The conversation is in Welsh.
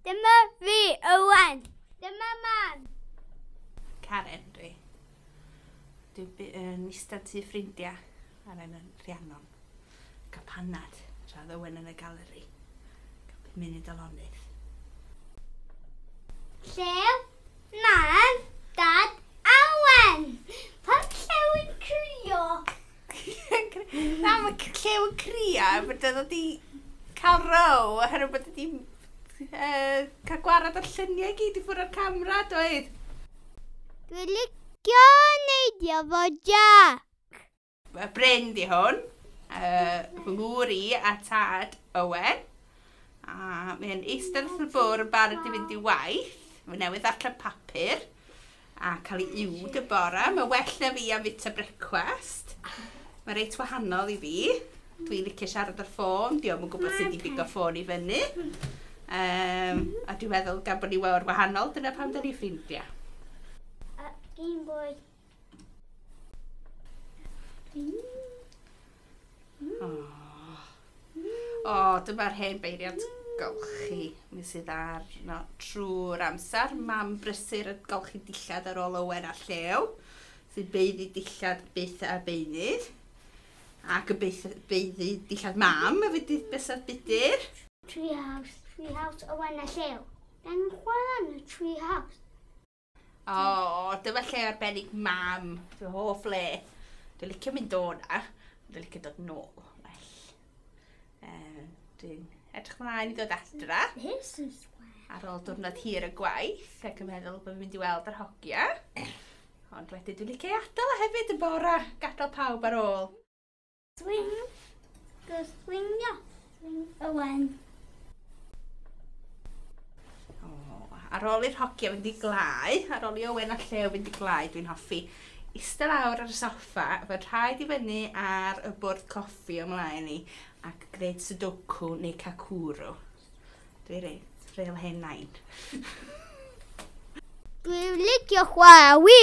Dyma fi, Owen. Dyma mam. Karen, dwi. Dwi'n yn eistedd tu ffrindiau ar yn Rhiannon. Cael panad, tra ddywen yn y galeri. Cael byd munud o lonydd. Llew, mam, dad, awen. Pan llew yn crwio. Na, mae Llew yn cria, bod oedd wedi cael row, oherwydd bod wedi uh, cael gwared o'r lluniau i gyd i ffwrdd o'r camera, doedd? Dwi'n licio neidio fo Jack. Mae Bryn di hwn, uh, fy ngŵr i a tad Owen. A mae'n eistedd wrth y bwr yn barod i fynd i waith. Mae newydd ddarllen papur. A cael i uwd y bore. Mae well na fi am fita brecwast. Mae reit wahanol i fi. Dwi'n licio siarad ar ffôn. Diolch yn gwybod sut i bigo ffôn i fyny. Um, a dwi'n meddwl gan bod ni wawr wahanol, dyna pam da ni ffrindiau. Uh, Game Boy. O, dyma'r hen beiriant golchi mi sydd arno trwy'r amser. Mam brysur yn golchi dillad ar ôl Owen a Llew, sy'n beiddi dillad byth a beunydd. Ac yn beith- beiddi dillad mam y fydydd bysedd budur. Treehouse, Treehouse, Owen a Llew. Gan chwarae yn y Treehouse. O, dyma lle arbennig mam. Fy hoff le. Dwi'n licio mynd o na. Dwi'n licio dod nôl. Well. Um, dwi'n edrych mlaen i ddod adra. This is where... Ar ôl diwrnod hir y gwaith ac yn meddwl bod fi'n mynd i weld yr hogia. Ond wedyn dwi'n licio ei adael o hefyd y bora. Gadael pawb ar ôl. Swing. Go swingio. Swing Owen. ar ôl i'r hogia fynd i glai, ar ôl i Owen a Llew fynd i glai, dwi'n hoffi eistedd lawr ar y soffa, fy rhaid i fyny ar y bwrdd coffi ymlaen i, ac gwneud sudoku neu kakuru. Dwi'n reit, real hen nain. Dwi'n licio chwarae wi!